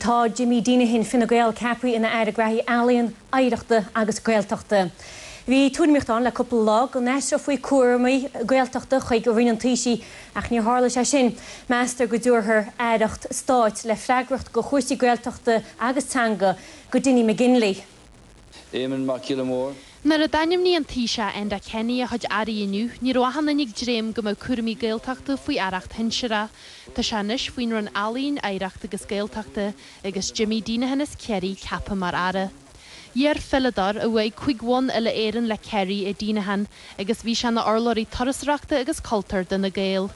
Tá Jimmy Deenihan, Fine Gael, ceaptha ina Aire Gnóthaí Ealaíon, Oidhreachta agus Gaeltachta. Bhí tuairimíocht ann le cúpla lá go n-aistreofaí cúraimí Gaeltachta chuig Roinn an Taoisigh ach níor tharla sé sin. Meastar go dtabharfar aireacht stáit le freagracht go chúrsaí Gaeltachta agus teanga go Dinny McGinley. Éamon Mac Giolla Mhóir. Nuair a d'ainmnigh an Taoiseach Enda Kenny a chuid airí inniu, ní raibh aon duine ag dréim go mbeadh cúraimí Gaeltachta faoi aireacht shinsearach. Tá sé anois faoin Roinn Ealaíon, Oidhreachta agus Gaeltachta agus Jimmy Deenihan as Ciarraí ceaptha mar aire. Iar-pheileadóir a bhuaigh cúig bhonn uile-Éireann le Ciarraí é Deenihan agus bhí sé ina urlabhraí turasóireachta agus cultúir d'Fhine Gael.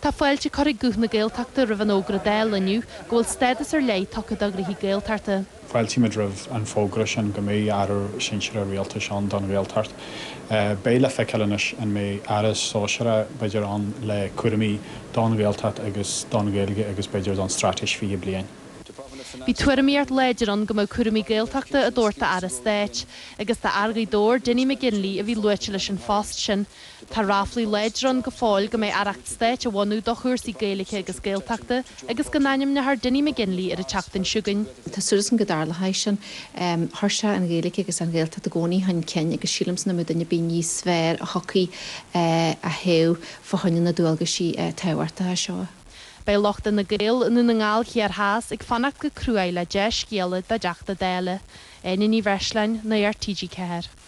Tá fáilte curtha ag Guth na Gaeltachta roimh an fhógra Dála inniu go bhfuil stádas ar leith tugtha do ghnóthaí Gaeltachta. Fáiltímid roimh an bhfógra sin go mbeidh Aire Sinsearach Rialtais ann don Ghaeltacht. Beidh le feiceáil anois an mbeidh Aire Sóisearach b'fhéidir ann le cúraimí don Ghaeltacht agus don Ghaeilge agus b'fhéidir don Straitéis 20 Bliain. Bhí tuairimíocht láidir ann go mbeadh cúraimí Gaeltachta á dtabhairt d'Aire Stáit. Agus fear Ghaoth Dobhair, Dinny McGinley, a bhí luaite leis an phost sin. Tá ráflaí láidre ann go fóill go mbeidh aireacht stáit á bunú do chúrsaí Gaeilge agus Gaeltachta agus go n-ainmneofar Dinny McGinley ar an tseachtain seo chugainn. Tá súil agamsa go dtarlóidh sin. Chuir sé an Ghaeilge agus an Ghaeltacht i gcónaí chun cinn agus sílimse nach mbeadh duine ar bith níos fearr a thiocfadh a thoghadh fá choinne na dualgaisí tábhachtacha seo. Beidh lucht Fhine Gael i nDún na nGall Thiar Theas ag fanacht go cruaidh le dea-scéala dá dTeachta Dála, Áine Ní Bhreisleáin, Nuacht TG4.